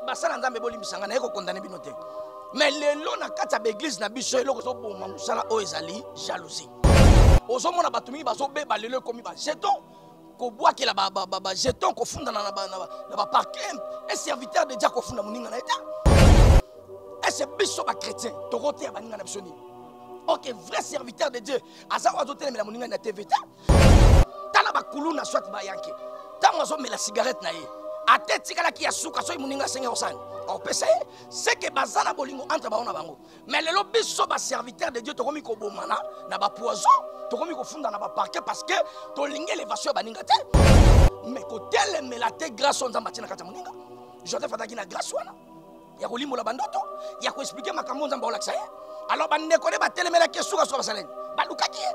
basala nzambe bolimbisa ngai naye kokondane bino te mais lelo na kati ya baeglize na biso eloko ezoboma mosala oyo ezali jalousie ozomona bato mingi bazobeba lelo ekomi bajeton kobwakela bajeton kofundana na baparkin un serviteur de dia kofunda moninga na ye te ese biso bachrétien tokoteya baninga na biso nini ok vrai serviteur de dieu aza oyo azotelemela moninga na tv te tala bakuluna soit bayanke ntango azomela cigarette na ye ata etikalaki ya suka soki moninga asengi osani opesa ye seke baza na bolingo entre bango na bango mais lelo biso baserviteur de dieu tokomi kobomana na bapoison tokomi kofunda na baparke parce que tolingi elevation ya baninga te mais kotelemela te grâce oyo nzambe atie na kati ya moninga joseph azalaki na grâce wana ya kolimbola bandoto ya koexplike makambo nzambe aolakisa ye alors bandeko nde batelemelaki ye sukasuka basalani balukaki ye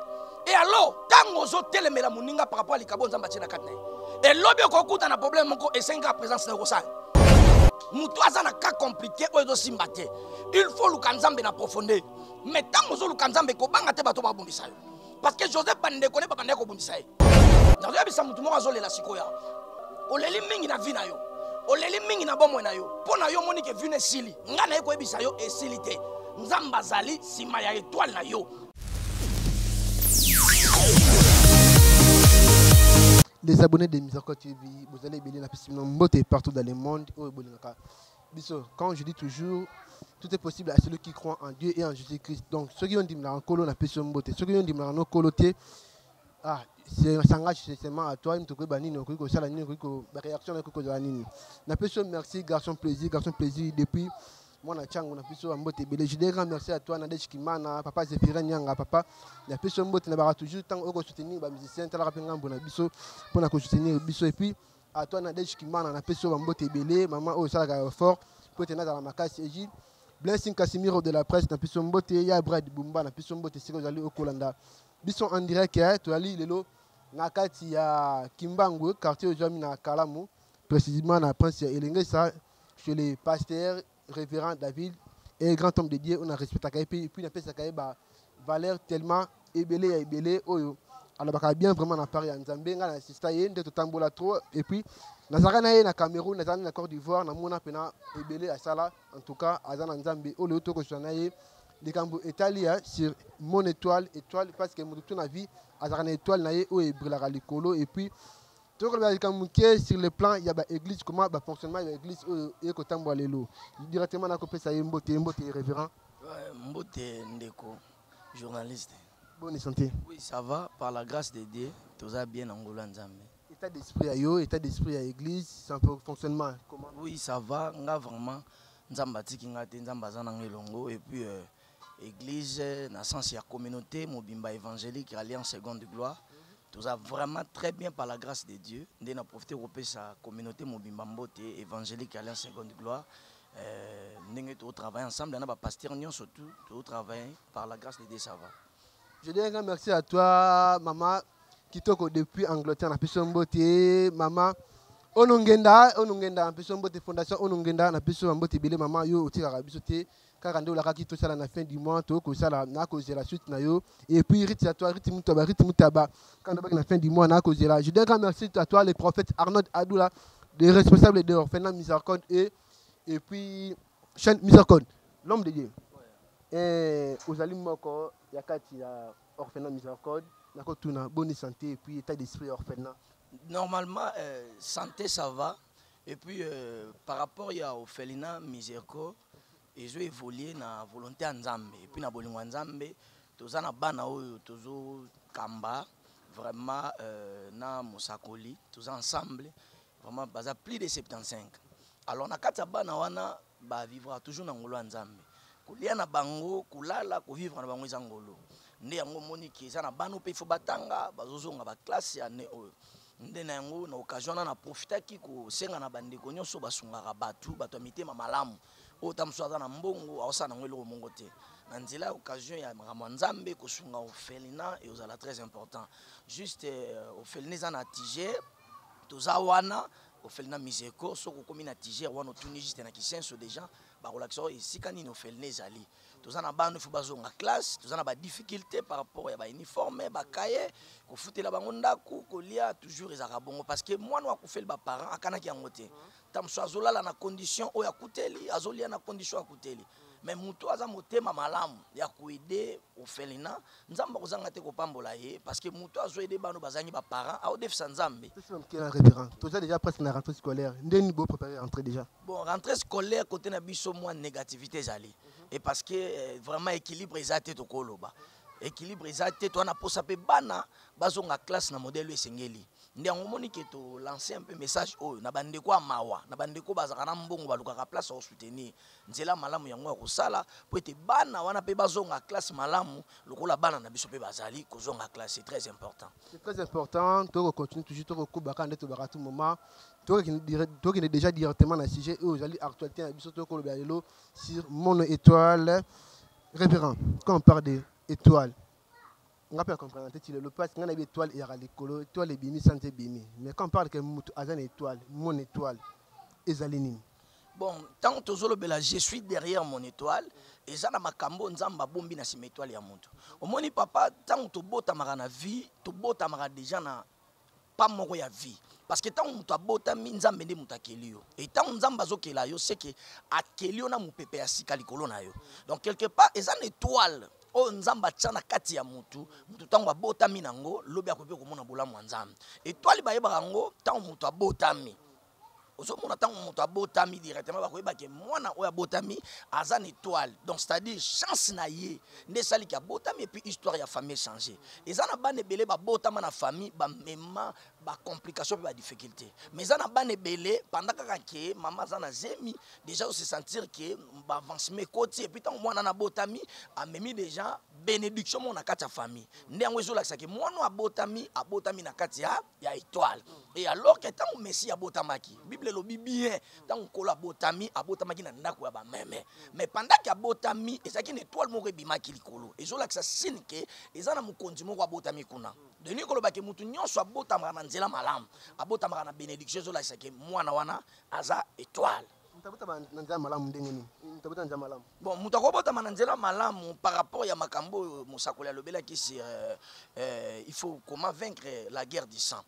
e alors ntango ozotelemela moninga par rapport ya likabo nzambe atie na kati na ye elobi okokuta na problème moko esengaka présence na okosala moto aza na cas compliqué oyo ezosimba te il faut oluka nzambe na profondeur mais ntango ozoluka nzambe kobanga te bato babundisa yo parce que joseph bandeko ne babandaki kobundisa ye nazoyebisa motu moko azolela sikoyo awa oleli mingi na vi na yo oleli mingi na bomoi na yo mpo na yo omoni ke vi na esili ngai naye koyebisa yo esili te nzambe azali nsima ya etwale na yo les abonnés de Mizarko TV bozali ebele na pesi bino mbote partout dans le monde oyo bolingaka biso quand je dis toujours tout est possible à celui qui croit en Dieu et en Jésus-Christ donc ceux qui ont dit na kolo na peso mbote ceux qui ont dit na no kolo te ah c'est s'engage seulement à toi mtu koyeba nini okoki kosala nini okoki ko ba réaction okoki kozala nini na peso merci garçon plaisir garçon plaisir depuis mwana chango na biso mbote ebele je grand merci à toi nadège kimana papa zephirin nyanga papa na biso mbote na baka toujours ntango oyo kosoutenir bamusicien talaka mpe ngambo na biso mpo na kosoutenir biso epuis A toi Nadège Kimana na pesi yo ba mbote ebele mama oyo esalaka effort mpo ete nazala makasi eji Blessing Casimiro de la presse na pesi yo mbote ya Brad Bumba na pesi yo mbote esika ozali okolanda biso en direct eh, tozali lelo na kati ya Kimbangu quartier ozwami na Kalamu précisément na prince ya Elengesa chez le pasteur Révérend David est grand homme de Dieu, on a respecté à Kaïpi, et puis on a fait à Kaïpi, valeur tellement ébélé à ébélé, oh yo. Alors, bah, bien vraiment en Paris, en Zambie, on a assisté, il y a tambola trop, et puis, nazalaka na ye na cameroun nazalaki na corte d'ivoire namona mpena ebele asala en tout cas aza na nzambe oyo leo tokosula na ye likambo etali ya sur mon étoile étoile parce que moto to na vie azalaka na étoile na ye oyo ebrilaka likolo et puis tokolobela likambo moke sur le plan ya ba église comment ba fonctionnement ya église oyo eye kotambola lelo directement nakopesa ye mbote mbote révérend mbote ndeko journaliste bonne santé oui ça va par la grâce de dieu toza bien na ngolo ya nzambe état d'esprit ya yo état d'esprit ya église sans fonctionnement comment oui ça va nga vraiment nzambe atiki nga te nzambe aza nanga elongo et puis euh, église na sens ya communauté mobimba évangélique alliance seconde gloire toza vraiment très bien par la grâce de dieu nde na profite kopesa communauté mobimba mbote évangélique alliance seconde gloire euh, ndenge totravaille ensemble na bapaster nyonso tout totravaille par la grâce de dieu ça va je dis un grand merci à toi maman kitoko depuis angleterre na biso mbote maman onongenda onongenda na biso mbote fondation onongenda na biso mbote ebele maman yo otikaka biso te kaka nde olakaki tosala na fin du mois toyo kosala nakozela suite na yo et puis rite ya toi rite mutaba rite mutaba kaka ndobaki na fin du mois nakozela je donne grand merci à toi le prophète arnold adoula le responsable de orphelinat misarcon et et puis chaîne misarcon l'homme de dieu eh, ozali moko ya kati ya orphelinat misarcon nakotuna boni santé et puis état d'esprit ya orphelinat normalement euh, santé ça va Et puis, euh, par rapport ya Ophelina Miserco, ezo évoluer na volonté ya Nzambe. Et puis, na bolingo ya Nzambe, toza na bana oyo tozo kamba vraiment euh, na mosakoli, toza ensemble, vraiment baza plus de 75. Alors, na kati ya bana wana, ba vivra toujours na ngolo ya nzambe kolia na bango kolala kovivre na bango eza ngolo nde yango omoni ke eza na bana mpe ifo batanga bazozonga baklasse ya ne oyo nde na yango na occasion wana naprofitaki kosenga na bandeko nyonso basungaka bato bato ya mitema malamu oyo ta mosusu aza na mbongo aosala nango eloko moko te na nzela ya occasion ya makambo ya nzambe kosunga ofelina eozala très important juste euh, ofelina eza na tige toza wana ofele na miseko soki okomi na tiger wana otuni juste na kisenso deja bakolakisa oyo esika nini ofeline ezali toza na bana ifo bazonga classe toza na badifficulté par rapport ya bauniforme bakaye kofutela bango ndako kolia toujours ezalaka bongo parce que mwana oyo akufeli baparent akanaki yango te ntango mosusu azolala na condition oyo akuteli azolia na condition akuteli mais mutu aza motema malamu ya koede ofelina nzambe akozanga te kopambola ye parce que mutu azo ede bano bazangi baparent aodefisa nzambe toza déjà presque na rentrée scolaire ndeni bo préparer rentrée déjà bon rentrée scolaire côté na biso mwa négativité ezali et parce que euh, vraiment équilibre eza te tokoloba équilibre eza te toa na posa mpe bana bazonga classe na modèle oyo esengeli nde yango omoni ke tolance mpe message oyo na bandeko ya mawa na bandeko bazalaka na mbongo balukaka place ya kosoutenir nzela malamu yango ya kosala mpo ete bana wana mpe bazonga classe malamu lokola bana na biso mpe bazali kozonga classe c'est très important c'est très important toyoko continue toujours tokokuba kaka nde tobaka tout moment tokende déjà directement na sujet oyo ozali actualité na biso tokolobela lelo sur mono étoile révérend quand on parle de étoile nga pe comprendre te ti lelo parce nga na bi étoile eyaka likolo étoile ebimi sans ebimi mais quand on parle que mutu aza na étoile mon étoile ezali nini bon ntango tozolobela je suis derrière mon étoile eza na makambo nzambe abombi na nsima étoile ya moto omoni papa ntango tobotamaka na vie tobotamaka déjà na pas moko ya vie parce que ntango moto abotami nzambe nde moto akeli yo e ntango nzambe azokela yo seke akeli yo na mopepe ya sika likolo na yo donc quelque part eza na étoile oyo nzambe atya na kati ya motu motu ntango abotami na yango lobi akoki mpe komona bolamu ya nzambe étoile bayebaka yango ntango moto abotami ozomona ntango moto abotami directement bakoyeba ke mwana oyo abotami aza na étoile donc c'est-à-dire chance na ye nde esali ke abotami epuis histoire ya famille echange eza na bana ebele babotama na famille bamema bacomplication mpe badifficulté mais eza na bana ebele panda kaka ke mama aza na zemi déjà ose sentir ke baavancement ekoti epuis ntango mwana nabotami amemi déjà bénédiction moko na kati ya famille nde yango ezolakisa ke mwana oyo abotami abotami na kati ya ya etoile et alors que ntango messi abotamaki bible elobi bien ntango nkolo abotami abotamaki na ndako ya bameme mais pendant ke abotami ezalaki na etoile moko ebimaki likolo ezolakisa sine ke eza na mokonzi moko abotami kuna denis koloba ke motu nyonso abotamaka na nzela malamu abotamaka na benediction ezolakisa ke mwana wana aza etoile moto abotama na nzela malamu ndenge nini moto abotama na nzela malamu bon moto akobotama na nzela malamu par rapport ya makambo oyo mosakoli alobelaki sur euh, euh, il faut comment vaincre la guerre du sang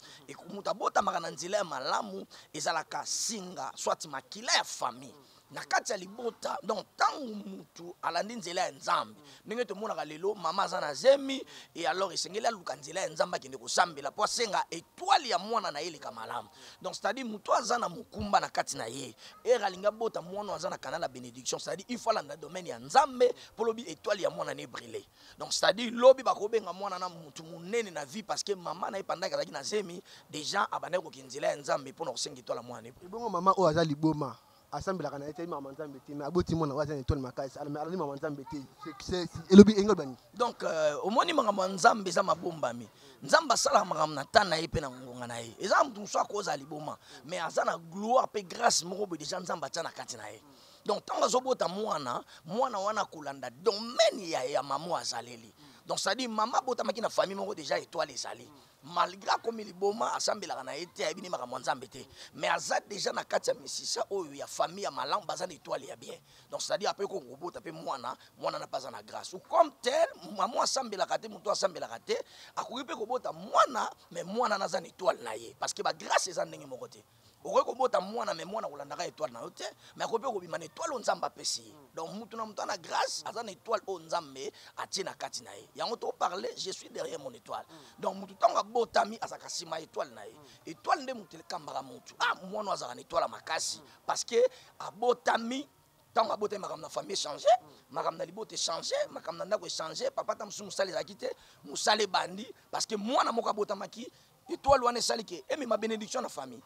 moto abotamaka na nzela ya malamu ezalaka singa soit makila ya famille na kati ya libota donc ntango motu alandi nzela ya nzambe ndenge tomonaka lelo mama aza na zemi e alors esengeli aluka nzela ya nzambe akende kosambela mpo asenga etwale ya mwana na ye eleka malamu donc c'est à dire moto aza na mokumba na kati na ye ere alingi abota mwana aza na canal ya bénédiction c'est à dire il faut alanda domaine ya nzambe mpo lobi étoile ya mwana na ebrile donc c'est à dire lobi bakobenga mwana na motu monene na vie parce que mama na ye pandaki azalaki na zemi déjà abandaki kokende nzela ya nzambe mpo na kosenga étoile ya mwana na ebrile ebongo mama oyo aza liboma asambelaka na ye te mama nzambe te mais aboti mwana oyo aza na etole makasi alali mama nzambe te elobi engo ebani donc euh, omoni makambo ya nzambe eza mabombami nzambe asalaka makambo na ntan na ye mpe na ngonga na ye eza moto mosusu akozala liboma mais aza na gloire mpe grâce moko boye deja nzambe atya na kati na ye donc ntango azobota mwana mwana wana akolanda domaine ya, ya mama azaleli donc cestadire mama abotamaki na famille moko deja étoile ezali malgré akomi liboma asambelaka na ye te ayebi nde makambo ya nzambe te mais aza déjà na kati ya misisa oyo ya famille ya malamu baza na étoile ya bien donc c'est-à-dire ape ko kobota mpe mwana mwana na mpe aza na grâce ou comme tel mamo asambelaka te moto asambelaka te akoki mpe kobota mwana mais mwana na aza na étoile na ye parce que bagrâce eza ndenge moko te okoki kobota mwana me mwana kolandaka étoile na yo te me akoki mpe kobima na étoile oyo nzambe apesi ye mm. donc motu na motu ana grâce aza na étoile oyo nzambe atie na kati na ye yango toparle je suis derrière mon étoile mm. donc motu ntango abotami azalaka nsima étoile na ye mm. étoile nde motu elekambaka motu a ah, mwana azalaka na étoile ya makasi parce que abotami ntango abotami makambo na famille echange makambo na libota echange makambo na ndako echange papa ta mosusu mosala ezalaki te mosala ebandi parce que mwana moko abotamaki etoile wana esali ke emema benediction na famille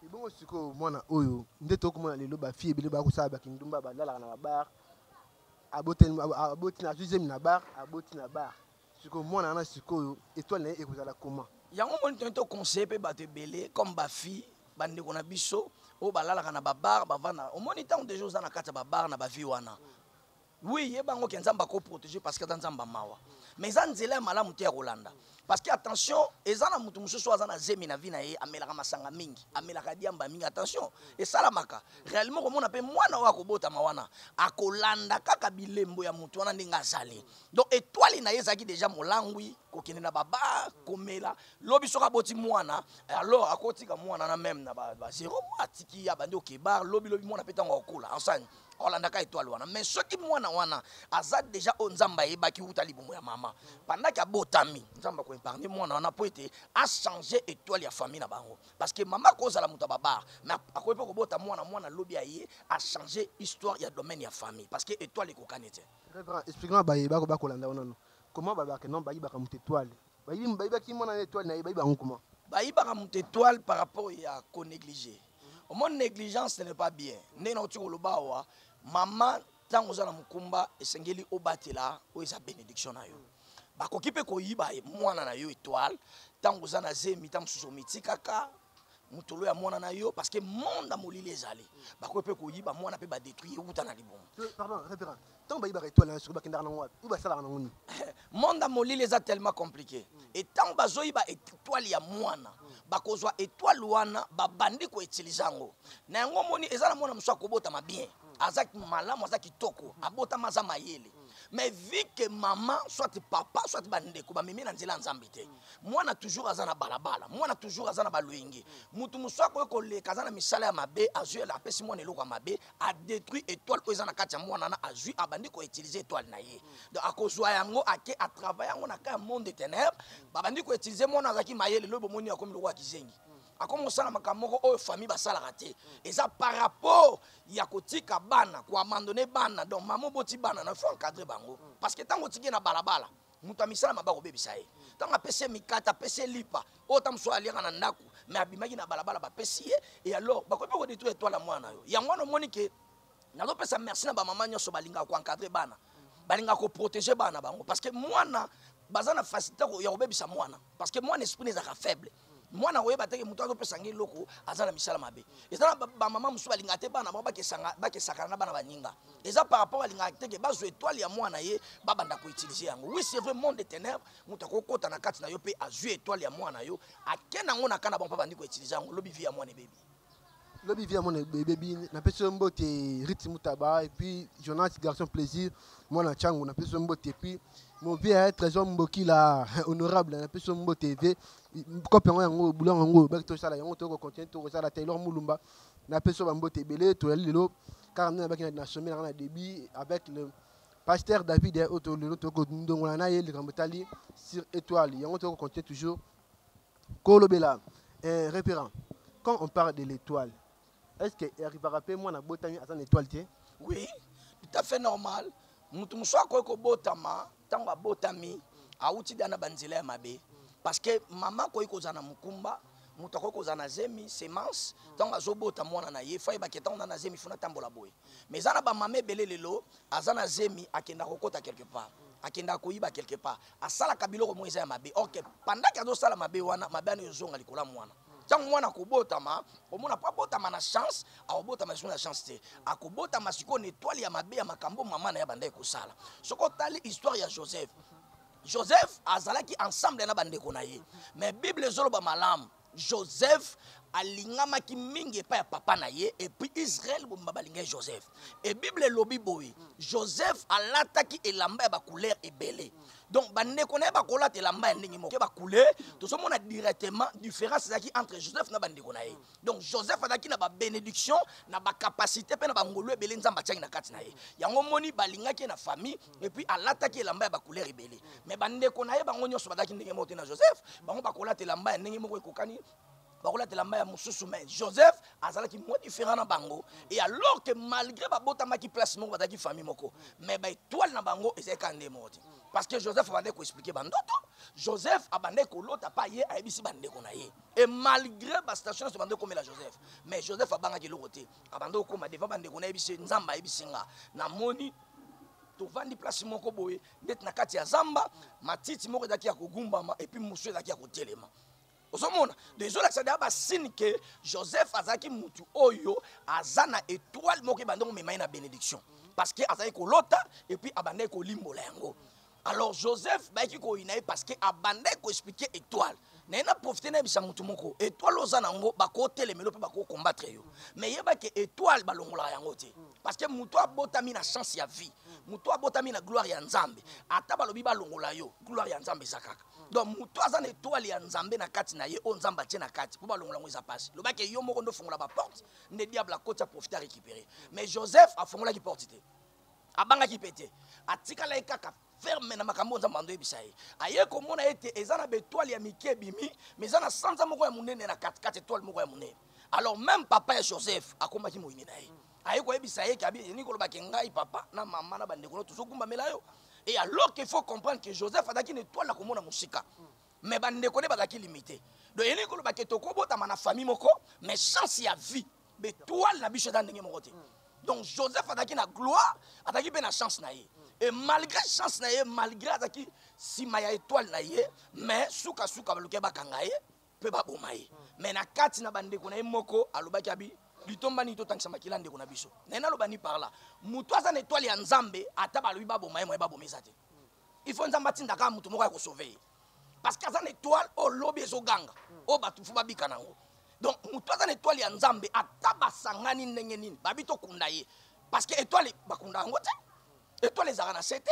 ebongo sikoyo mwana oyo nde tokomona lelo bafille ebele bakosala bakindumba balalaka na babar aboti na deuxième na bar aboti na bar sikoyo mwana wana sikoyo etoile na ye ekozala koma yango moni toni toconseille mpe bato ebele comme bafille bandeko na biso oyo balalaka na babar bavanda omoni ntango deja oza na kati ya babar na bavie wana oui yeba yango ke nzambe ako protege parce que aza nzambe ya mawa mais eza nzela ya malamu te ya kolanda parce que attention eza na moto mosusu oyo aza na zemi na vi na ye amelaka masanga mingi amelaka diamba mingi attention esalamaka réellement okomona mpe mwana oyo akobotama wana akolanda kaka bilembo ya moto wana ndenge azali donc etwale na ye ezalaki deja molangwi kokende na babar komela lobi soki aboti mwana alors akotika mwana na meme na bazero ba mwa atiki abandi okebar lobilobi mwana mpe ntango akokola enseigne olandaka etoile wana mais soki mwana wana aza deja oyo nzambe ayebaki uta libumu ya mama pendaki abotami nzambe akoepargne mwana wana mpo ete achange etoile ya famille na bango parce que mama akozala moto ya babare mais akoki mpe kobota mwana mwana lobi aye achange histoire ya domaine ya famille parce que etoile ekokani te expliquement baye bakolanda wana no comment babaka non bayibaka moto etoile bayibi bayibaki mwana na étoile na ye bayiba yango comment bayibaka moto étoile par rapport ya ko négliger omoni négligence ce n'est pas bien ndenge na kotika koloba awa mama ntango oza na mokumba esengeli obatela oyo eza bénédiction na yo bakoki mpe koyiba mwana na yo étoile ntango oza na zemi ntango mosusu omitikaka motolo ya mwana na yo parce que monde ya molili ezali bakoki mpe koyiba mwana mpe badetruire euta na libumu ntango bayibaka etwale na soki bakendaka nango wapi oyo basalaka nango nini monde ya molili eza tellement compliqué e ntango bazoyiba etwale ya mwana bakozwa etwale wana babandi koutilize yango na yango omoni eza na mwana mosusu akobotama bien aza malamu aza kitoko abotama aza mayele mais vu que maman soit papa soit bandeko bamemi na nzela ya nzambe te mwana toujours aza na balabala mwana toujours aza na baloyenge motu mosusu akoki koleka aza na misala ya mabe azwi apesi mwana eloko ya mabe adétruit étoile oyo eza na kati ya mwana wana azwi abandi koutilize étoile na ye donc akozwa yango ake atravaille yango na ka ya monde de ténèbre babandi koutilize mwana azalaki mayele loyi bomoni akomi lokola kizengi akomi kosala makambo moko oyo famille basalaka te eza par rapport ya kotika bana koamandone bana donc mama oboti bana na faut encadre bango parce que ntango otiki ye na balabala moto ya misala maba kobebisa ye ntango apesi ye mikata apesi ye lipa oyo ta mosusu aliaka na ndako me abimaki na balabala bapesi ye e alors bakoki mpe kodetruire etwale ya mwana yo yango wana omoni ke nazopesa merci na bamama nyonso balingaka koencadre bana balingaka koprotege bana bango parce que mwana baza na facilité ya kobebisa mwana parce que mwana esprit ezalaka faible mwana akoyeba teke moto azopesa ngai eloko aza na misala mabe eza na bamama mosusu balingaka te bana bango bakesakana na bana baninga eza par rapport alingaka teke bazwa etoile ya mwana ye babanda koutilize yango oui c'est vrai monde de ténèbre moto akokota na kati na yo mpe azwi etoile ya mwana yo ake nango na kana bango mpe abandi koutilize yango lobi vi ya mwana ebebi lobi vie ya mwana ebebi napesi yo mbote rite mutaba epuis jonas garçon plaisir mwana chango napesi yo mbote epuis movie ya trésor mbokila honorable napesi yo mbote eve kope yango yango bulo yango yango baki tosala yango toyoko continue tokosala taylor mulumba napesi yo bambote ebele toyali lelo kaka nde nabaki na sommet nanga na début avec le pasteur david oyo lelo toyoko ndongola na ye likambo etali sur étoile yango toyoko continue toujours kolobela eh, reperant quand on parle de l'étoile est ce que arrivaka mpe mwana abotami aza na étoile te oui tout à fait normal moto mosusu akoki kobotama ntango abotami awuti da na banzela ya mabe parce que mama akoki kozala na mokumba moto akoki kozala na zemi semence ntango azobota mwana na ye fayebaki ntango na na zemi funa atambola boye mais eza na bamama ebele lelo aza na zemi akenda kokota quelque part akendaka koyiba quelque part asalaka biloko moko eza ya mabe ok pandaki azosala mabe wana mabe wana ezonga likolo ya mwana ntango mwana akobotama omona mpo abotama na chance akobotama lisusu na chance te akobotama sikoyo na etwale ya mabe ya makambo mama na ye abandaki kosala soki otali histoire ya joseph joseph azalaki ensemble na bandeko na ye mais bible ezoloba malamu joseph alingamaki mingi epai ya papa na ye epuis israele bomba balingaki joseph e bible elobi boye joseph alataki elamba ya bacouleur ebele donc bandeko na ye bakolata elamba ya ndenge moko bacouleur tozomona directement différence ezalaki entre joseph na bandeko na ye donc joseph azalaki na babénédiction na bacapacité mpe na bangolu ebele nzambe atiaki na kati na ye yango moni balingaki ye na famille et puis alataki elamba ya bacouleur ebele mais bandeko na ye bango nyonso bazalaki ndenge moko te na joseph bango bakolata elamba ya ndenge moko ekokani bakolata elamba ya mosusu mais joseph azalaki mwa différent na bango et alors que malgré babotamaki place moko bazalaki famille moko mais baetoile na bango ezalaki kaka ndenge moko te parce que joseph abandaki koexplike bandoto joseph abandaki kolota pa ye ayebisi bandeko na ye et malgré bastation nyonso bandaki komela joseph mais joseph abangaki eloko te abanda kokoma devant bandeko na ye bise nzambe ayebisi nga namoni tovandi place moko boye ndeti na kati ya zamba matiti moko ezalaki ya kogumbama epuis mosusu ezalaki ya kotelema ozomona donc ezolakisa deya basine ke joseph azalaki mutu oyo aza na etoile moko ebandi komema ye na bénédiction parce que azalaki kolota epuis abandaki kolimbola yango alors joseph bayaki koyina ye parce que abandaki koexplike étoile naye na profite nayebisa motu moko étoile oza na yango bakotelemelo mpe bakokombatre yo mais yeba ke étoile balongolaka yango te parce que motu abotami na chance ya vie motu abotami na gloire ya nzambe ata balobi balongola yo gloire ya nzambe eza kaka donc motu aza na étoile ya nzambe na kati na ye oyo nzambe atie na kati mpo balongola yango eza mpasi lobaki yo moko nde ofongola baporte nde diable akoti aprofite arécupere mais joseph afongolaki porte te abangaki mpe te atikalaki kaka ferme na makambo nzambe ando yebisa ye aye komona ete eza na betoile ya mike ebimi ma eza na sanza moko ya monene na katikati etoile moko ya monene alors même papa ya joseph akomaki moyini na ye aye koyebisa ye keabieni kolobake ngai papa na mama na bandeko no tozokumbamela yo e alors qu'il faut comprendre que joseph azalaki na etoile ya komona mosika mais bandeko nde bazalaki limite donc elingi kolobake tokobotama na famille moko mais chance ya vie betoile na biso eza ndenge moko te donc joseph azalaki na gloire azalaki mpe na chance na ye e malgré chance na ye malgré azalaki nsima ya étoile na ye mais sukasuka baluki bakanga ye mpe baboma ye mais na kati na bandeko na ye moko alobaki abi litomba nini totangisa makila ndeko na biso naye naloba ni par là moto aza na étoile ya nzambe ata balobi baboma ye moye baboma eza te il faut nzambe atindaka moto moko ya kosauve ye parce que aza na étoile oyo lobi ezoganga oyo bato mfu babika na yango donc moto aza na étoile ya nzambe ata basangani ndenge nini babi tokunda ye parce que étoile bakunda yango te étoile ezalaka na se te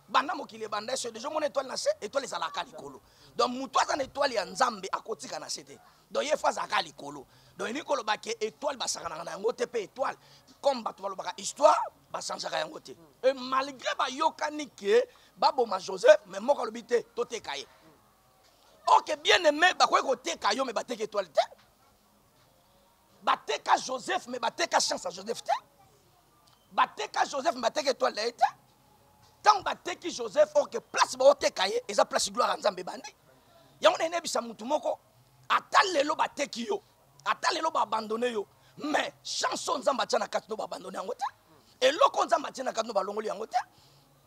banda mokili ebanda eso deja omona étoile na se étoile ezalaka likolo donc moto aza na étoile ya nzambe akotika na se te donc ye fo azalaka likolo donc elingi koloba ke étoile basakanaka na yango te mpe étoile comme bato balobaka histoire basanzaka yango te e malgré bayokani ke baboma joseph me moko alobi te toteka ye oke bien aime bakoki koteka yo me bateka etoile te bateka joseph me bateka chance ya joseph te bateka joseph me bateka etoile na ye te ntango bateki joseph orke place baoteka ye eza place gloire ya nzambe ebandi yango na enebisa motu moko ata lelo bateki yo ata lelo ba abandonne yo mais chance oyo nzambe atya na kati no ba abandonne yango te eloko nzambe atya na kati no balongoli yango te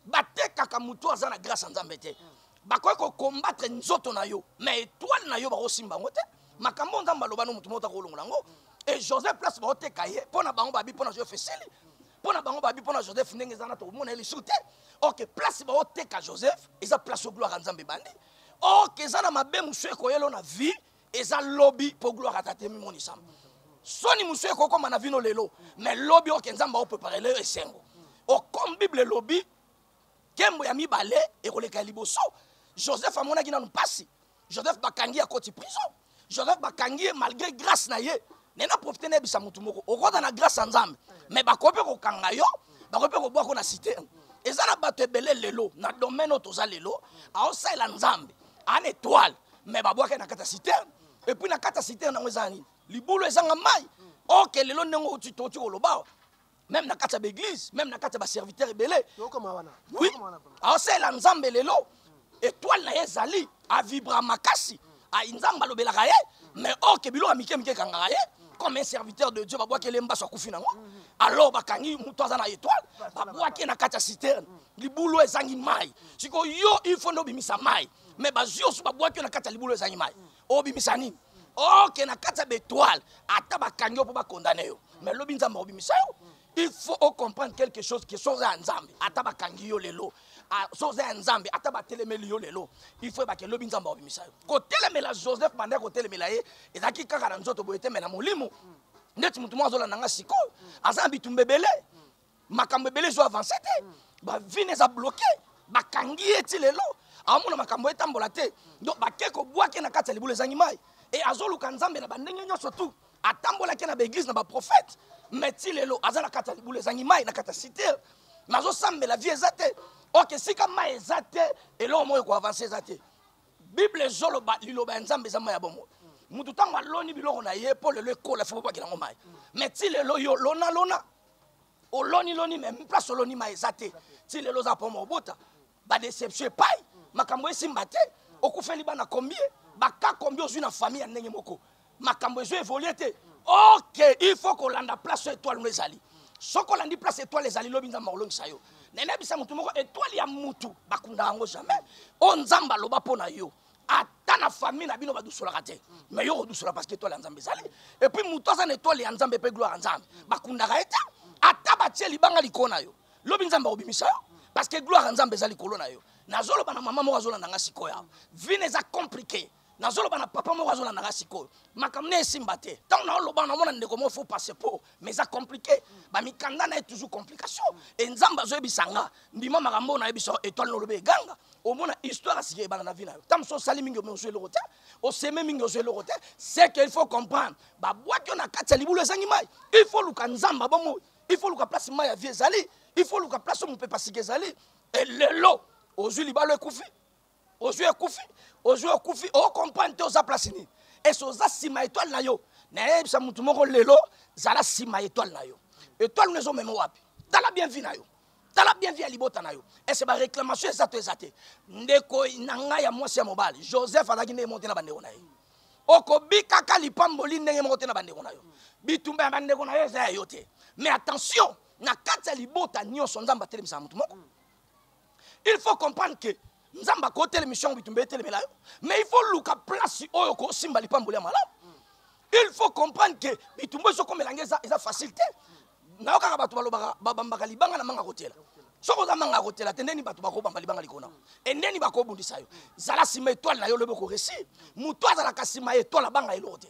batekaka motu aza na grâce ya nzambe te bakoki kokombatre nzoto na yo mais etoile na yo bakosimba yango te makambo oyo nzambe aloba no motu moko takolongola yango e joseph place baoteka ye mpo na bango babi mpo na joseph esili mpo na bango babi mpo na joseph ndenge eza na tokomona ye lisusu te ok place baoteka joseph eza place oyo gloire ya nzambe ebandi ok eza na mabe mosusu ekoyelo na vie eza lobi mpo gloire ata te mimonisama soni mosusu ekokoma na vino lelo me lobi oke nzambe aoprepare lelo esengo okomi bible elobi nkembo ya mibale ekoleka ya liboso joseph amonaki nanu mpasi joseph bakangi ye akoti prison joseph bakangi ye malgré grâce na ye me na profite nayebisa motu moko okota na grâce ya nzambe me bakoki mpe kokanga yo bakoki mpe kobwako na site eza na bato ebele lelo na domaine oyo toza lelo aosalela nzambe an étoile me babwaki na kati ya site epuis na kati ya site yango eza nini libulu ezanga mai oke lelo ndenge oti koloba meme na kati ya baeglise meme na kati ya baserviteur ebele oui aosalela nzambe lelo etoile na ye ezali avibra makasi nzambe alobelaka ye mais or ke biloko ya mike mike ekangaka ye comme un serviteur de dieu babwaki ele mbaso akufi nango alors bakangi moto aza na étoile babwaki ye na kati ya citerne libulu ezangi mai sikoyo yo il faut nde obimisa mai mais bazwi osu babwaki yo na kati ya libulu ezangi mai mm. obimisa nini oke na kati ya betoile ata bakangi yo mpo bakondane yo mais lobi nzambe akobimisa yo il faut ocomprendre quelque chose que soza ya nzambe ata bakangi yo lelo soza ya nzambe ata batelemeli yo lelo il faut ebake lobi nzambe akobimisa yo kotelemela joseph banda ya kotelemela ye ezalaki kaka na nzoto boye te me na molimo ndeti motu moko azolanda nga sikoyo aza na bitumba ebele makambo ebele ezo avance te bavine eza bloke bakangi ye ti lelo amona makambo etambola te donc bake kobwake na kati ya libulu ezangi mai e azoluka nzambe na bandenge nyonso tu atambolaki na baeglise na baprofete mai ti lelo aza na kati ya libulu ezangi mai na kati ya site mai azosambela vie eza te ok esika mai eza te eloko moko ekoavanse eza te bible ezoloba liloba ya nzambe eza mai ya bomoi moto ntango aloni biloko na ye mpo lelo ekola fo bobwaki nango mai mai ti lelo yo lona lona oloni loni me place oloni ma eza te ti lelo oza poma obota badeception epai makambo esimba te okufeli bana combie baka combie ozwi na famille ya ndenge moko makambo ezo evolue te ok il faut kolanda place oyo etoile no ezali soki olandi place etoile ezali lobi nzambe akolongisa yo nenebisa motu moko etoile ya mutu bakunda yango jamais oyo nzambe aloba mpo na yo ata na famille na bino badusolaka te mais yo okodusola parce que etoile ya nzambe ezali et puis moto aza na etoile ya nzambe mpe gloire ya nzambe bakundaka ye te ata batie libanga likolo na yo lobi nzambe akobimisa yo parce que gloire ya nzambe eza likolo na yo nazoloba na mama moko azolanda nga sikoyo awa vine eza compliqué nazoloba na papa moko azolanda nga sikoyo makambo ne esimba te ntango naoloba namona ndeko moko fo passe po mais eza compliqué bamikanda na ye toujours complication e nzambe azoyebisa nga ndima makambo oyo nayebisa etoile na olobi eganga omona histoire asika ebanda na vie na yo ntango mosusu osali mingi ozwi eloko te oseme mingi ozwi eloko te ce que il faut comprendre babwaki yo na kati ya libulu ezangi mai il faut luka nzambe abomo il faut luka place mai ya vie ezali il faut luka place oyo mopepa sika ezali e lelo ozwi libalo ekufi ozwi ekufi ozwi okufi okomprendre te oza place nini ese oza nsima etoile na yo nayebisa motu moko lelo zala nsima etoile na yo etoile no ezomema wapi tala bien vi na yo tala bien vi ya libota na yo ese baréclamation eza to eza te ndeko na ngai ya mwasi ya mobali joseph azalaki ndenge moko te na bandeko na ye okobikaka lipamboli ndenge moko te na bandeko na yo bitumba ya bandeko na yo eza ya yo te mais attention na kati ya libota nyonso nzambe atelemisaka motu moko mm. il faut comprendre que nzambe akoki otelemisa yango bitumba etelemela yo mais il faut luka place oyo okosimba lipamboli ya malamu il faut comprendre que bitumba ezokomela nge eza facile te nayokaka bato balobaka babambaka libanga na manga kotela soki oza manga kotela te ndeni bato bakobamba libanga likona e ndeni bakobundisa yo zala nsima etwale na yo lobi okoresi moto azalaka nsima etwale abanga eloko te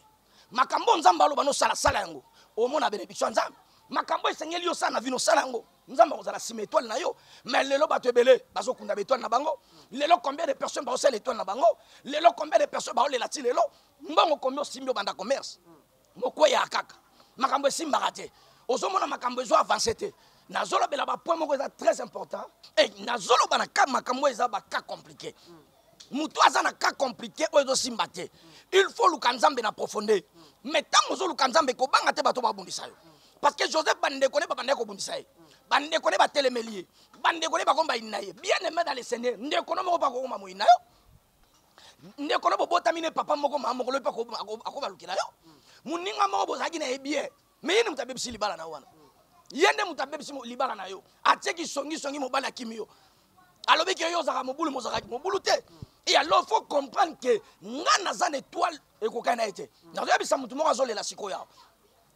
makambo oyo nzambe aloba nosala sala yango omona benediction ya nzambe makambo esengeli yo sala na vino sala yango nzambe akozala nsima etoile na yo mais lelo bato ebele bazokunda baetoile na bango lelo combien de personnes baosala etoile na bango lelo combien de personnes baolela ti lelo mbongo kombi osimbi obanda commerce mokweyaka kaka makambo esimbaka te ozomona makambo ezo avance te nazolobela bapoint moko eza très important e nazoloba na ka makambo eza baka compliqué moto aza na cas compliqué oyo ezosimba te il faut oluka nzambe na profondeur mais ntango ozoluka nzambe kobanga te bato babundisa yo parce que joseph bandeko ne babandaki kobundisa ye bandeko ne batelemeli ye bandeko ne bakomi bayini na ye bien aimé dans le seigneur ndeko no moko mpe akokoma moyini na yo ndeko no bobotami ne papa moko mama moko lobi mpe akobalukela yo moninga moko bozalaki na ye bien me ye nde moto abebisi libala na yo wana ye nde moto abebisi libala na yo atieki songisongi mobali akimi yo alobi ke yo ozalaka mobulu mozalaka mobulu te e alors faut comprendre ke ngai naza na étoile ekokani na ye te nazoyebisa moto moko azolela sikoyo awa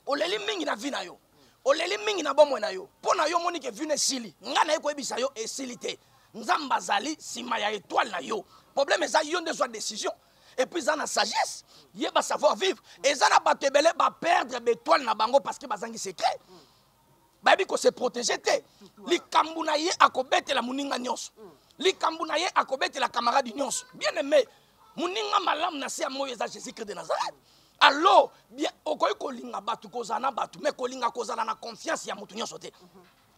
oleli mingi na vi na yo oleli mingi na bomoi na yo mpo na yo omoni ke vino esili ngai naye koyebisa yo esili te nzambe azali nsima ya étoile na yo problème eza yo nde zwa décision epuis eza na sagesse ye ba savoir vivre eza na bato ebele baperdre betoile na bango parce que bazangi secret bayebi kose protege te likambo na ye akobetela moninga nyonso likambo na ye akobetela camarade nyonso bien aime moninga malamu na se ya moi eza jésus christ de nazareth alors bien okoki kolinga bato kozala na bato mais kolinga kozala na confiance ya moto nyonso te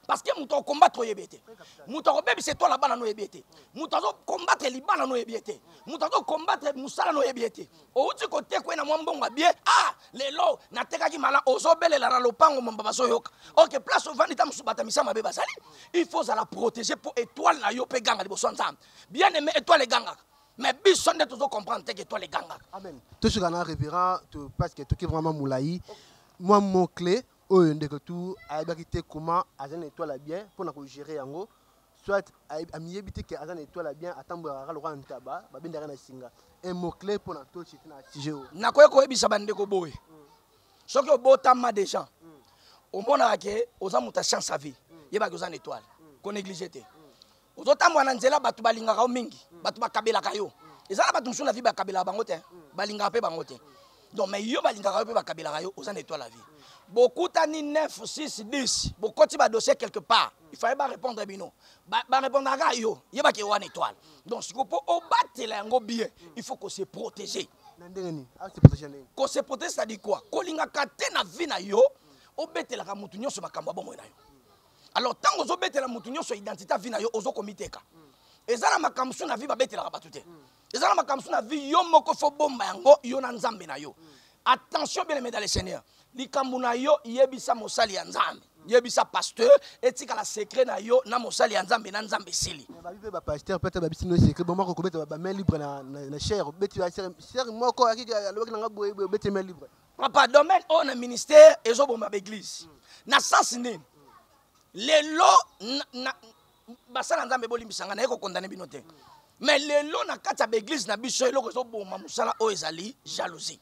parce que moto akokombatre oyebi ye te moto akobebisa etwale ya bana noyebi ye te moto azokombatre libala noyebi ye te moto azokombatre mosala noyebi ye te outi kotekwe na mwa mbongo abie ah lelo natekaki mala ozobelela na lopango momba bazoyoka ok place ovandi ta mosusu bata misa mabe bazali il faut ozala protégé mpo etwale na yo mpe ganga liboso ya nzambe bien aimé etwale egangaka mais biso nde tozocomprendre te ke etwale egangaka tosuka na révérend parce que toki vraiment molai mwa mot clé oyo ndeko tu ayebaki te comment aza na étoile ya bien mpo na kogere yango soit amiyebi te ke aza na étoile ya bien atambolaka kaka lokola ntaba babendaka na singa un mot clé mpo na tochi te na sujet oyo nakoki koyebisa bandeko boye mm. soki obotama déjà mm. omonaka ke oza moto ya chance à vie mm. yebaki oza na étoile konéglige te ozotambola na nzela bato balingaka yo mingi mm. bato bakabelaka yo mm. eza na bato mosusu na vie bakabelaka bango te mm. balingaka mpe bango te donc mais yo balingaka yo mpe bakabelaka yo oza na étoile la vie bokutani 9 6 10 bokoti badossier quelque part il fallait barépondre bino barépondaka kaka yo yebaki ewana étoile donc siko mpo obatela yango bien il faut ko se protéger ko se protéger c'est-à-dire quoi kolingaka te na vie na yo obetelaka motu nyonso makambo ya bomoi na yo alors ntango ozobetela motu nyonso identité avi na yo ozo komiteka mm. eza na makambo su na vi babetelaka bato te mm. eza na makambo su na vi yo moko fo bomba yango yo na nzambe na yo mm. attention bien aimé dans le seigneur likambo na yo yebisa mosali ya nzambe yebisa pasteur etikala secret na yo na mosali ya nzambe na nzambe esili babi mpe bapasteur mpe ata babisi no secret bango akokobeta bamain libre na chaire obeti chaire moko alobaki nanga boye boye obeti main libre papa domaine oyo na ministère ezoboma baeglise na sens nini lelo basala nzambe bolimbisa ngai naye kokondane bino te mais lelo na kati ya baeglise na biso eloko ezoboma mosala oyo ezali jalousie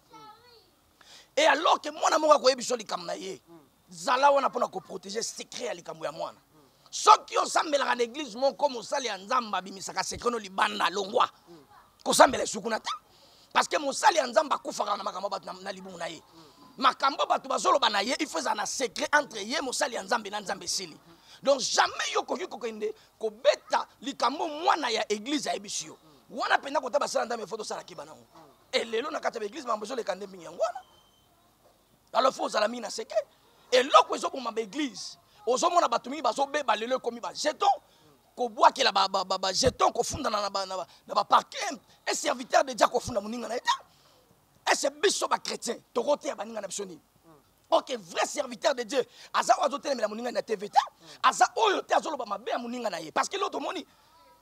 e alors ke mwana moko akoyebi biso likambo na ye zala wana mpo na koprotege secret ya likambo ya mwana soki osambelaka na eglize moko mosali ya nzambe abimisaka secret no libanda longwa kosambela esu kuna te parce que mosali ya nzambe akufaka na makambo bato na libumu na ye makambo bato bazoloba na ye il faut ezala na secret entre ye mosali ya nzambe na nzambe esili donc jamais yo okoki kokende kobeta likambo mwana ya eglize ayebisi yo wana mpenza kota basala nzambe fo tosala keba nango elelo na kati ya baeglize mambo ezoleka nde mingi yango wana alors faut ozala mingi na seke eloko ezoboma baeglise ozomona bato mingi bazobeba lelo ekomi bajeton kobwakela bajeton kofundana na baparke e serviteur de dia kofunda moninga na ye te ese biso bachrétien tokoteya baninga na biso nini ok vrai serviteur de dieu aza oyo azotelemela moninga na tv te aza oyo te azoloba mabe ya moninga na ye parce que lelo tomoni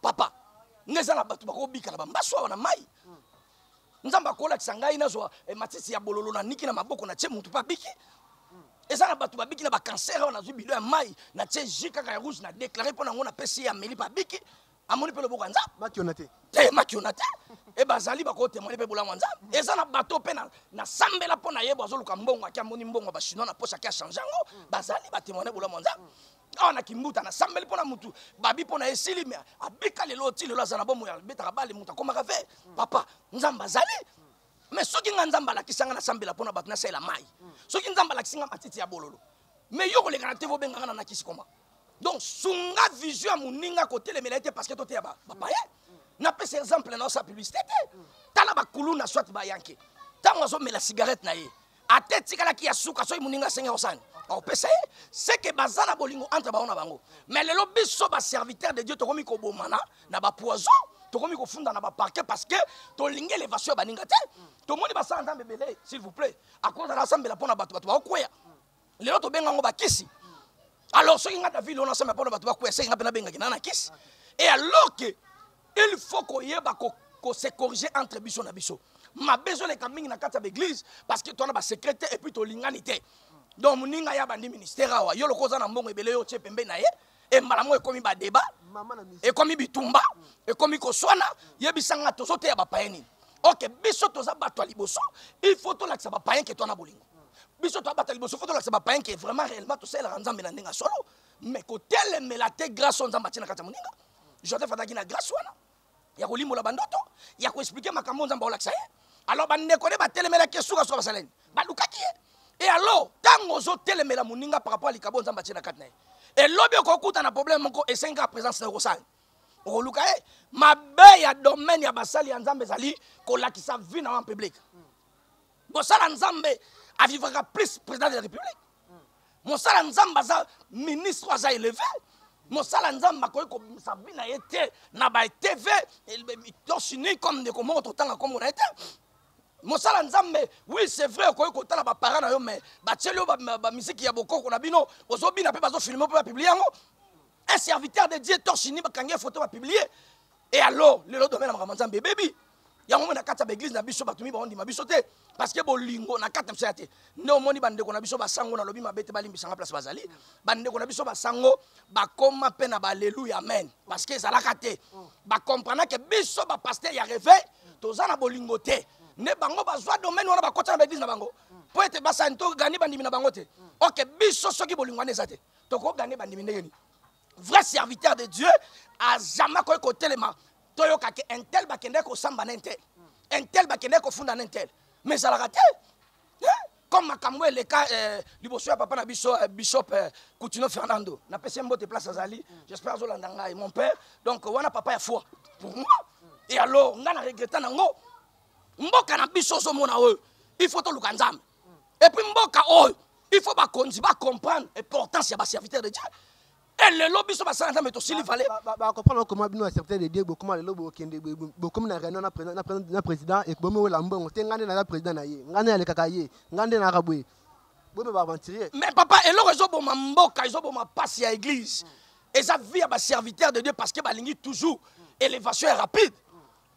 papa nga eza na bato bakobika na bambaso awa na mai nzambe akolakisa ngai nazwa eh, matisi ya bololo na niki na maboko na tie motu mpe abiki eza na bato babiki na bacancer oyo nazwi bilo ya mai na tie ji kaka ya rouge na déclare mpo na yango napesi ye ameli mpe abiki amoni mpe loboko ya nzambe makiona te te makiona te e bazali bakotemone mpe bolamu ya nzambe eza na bato mpe nasambela mpo na ye bwazoluka mbongo ake amoni mbongo ya bachinois na poche ake achange yango bazali batemone bolamu ya nzambe awa na kimbuta nasambeli mpo na motu babi mpo na ye esili me abika lelo ti lelo aza na bomoi abetaka bale moto akomaka ve papa nzambe azali me soki ngai nzambe alakisa ngai nasambela mpo na bato nasalela mai soki nzambe alakisi ngai matiti ya bololo me yo koleka na te vobenga ngai na nakisi koma donc sunga vision ya moninga kotelemela ye te parce que toteya bapaye napesa exemple na osa publicité te tala bakuluna soit bayanke ntango azomela cigarette na ye ata etikalaki ya suka soki moninga asengi osani opesa ye seke baza na bolingo entre bango na bango me lelo biso baserviteur de dieu tokomi kobomana na bapoison tokomi kofunda na baparke parce que tolingi elevation ya baninga te tomoni basala nzambe ebele s'il vous plaît akozala asambela mpo na bato bato baokweya lelo tobenga yango bakisi alors soki nga david ona asema mpona bato bakwea seki nga mpe nabengaki na na kisi e alors ke il faut koyeba kose corriger entre biso na biso mabe ezoleka mingi na kati ya baeglise parce que towana basecret te epuis tolingani te donc moninga ya bandi ministère awa yo lokola oza na mbongo ebele yo otye pembe na ye e mbala moko ekomi badeba ekomi bitumba ekomi koswana yebisa nga tozoteya bapaye nini oke biso toza bato ya liboso il faut tolakisa bapaye ke twana bolingo biso toza bato ya liboso fo tolakisa bapaye ke vraiment réellement tosalelaka nzambe na ndenge ya solo mais kotelemela te grâce oyo nzambe atie na kati ya moninga joseph azalaki na grâce wana ya kolimbola bandoto ya koexplike makambo nzambe akolakisa ye alors bandeko nde batelemelaki ye sukasuka basala nini balukaki ye e alors ntango ozotelemela moninga par rapport ya likabo nzambe atie na kati na ye elobi okokuta na problème moko esengi kaka présence na okosala okoluka ye mabe ya domaine ya basali ya nzambe ezali kolakisa vie na yo en public bosala nzambe avivaka plus président de la république mosala nzambe aza ministre aza eleve mosala nzambe akoki kobimisa bi na ye te na batv tosini comme ndeko moko totanga nkombo na ye te mosala nzambe oui c'est vrai okoki kotala baparent na yo mais batieli yo bamiziki ya bokoko na bino ozobina mpe bazofilme mpe bapiblie yango un serviteur de dieu torchini bakangi ye foto bapiblie e alors lelo domaine ya makambo nzambe ebebi yango omoni na kati ya baeglize na biso bato miba ondima biso te parce que bolingo na kati na biso ya te nde omoni bandeko na biso basango nalobi mabe te balimbisanga place bazali bandeko na biso basango bakoma mpe na baleluya amen parce que ezalaka te bakomprenake biso bapaster ya reveil toza na bolingo te nde bango bazwa domaine wana bakota na baeglize na bango mpo ete basani togani bandimi na bango te oke biso soki bolingo wana eza te tokogane bandimi ndenge nini vrai serviteur de dieu azama akoki kotelema toyoka ke intel bakendeki kosamba na intel intel bakendeki kofunda na intel mais ezalaka te comme makambo eleka eh, liboso ya papa na biso eh, bishop eh, coutinho fernando napesi ye mbote place azali j'espère azolanda ngai mon père donc wana papa ya foi pour moi et alors ngai na regreta nango mboka na biso ozomona oyo il faut toluka nzambe et puis mboka oyo il faut bakonzi bacomprendre importance ya baserviteur de dieu e lelo biso basala nzambe tosili vale bacomprendre okoma bino baserviteur de dieu bokoma lelo bokende bokomi na réunion na président ekobomi wela mbongo te ngai nde naza président na ye ngai nde nalekaka ye ngai nde naka boye bobe baaventurier mais papa eloko ezoboma mboka ezoboma mpasi ya église eza vie ya baserviteur de dieu parce que balingi toujours élévation ya rapide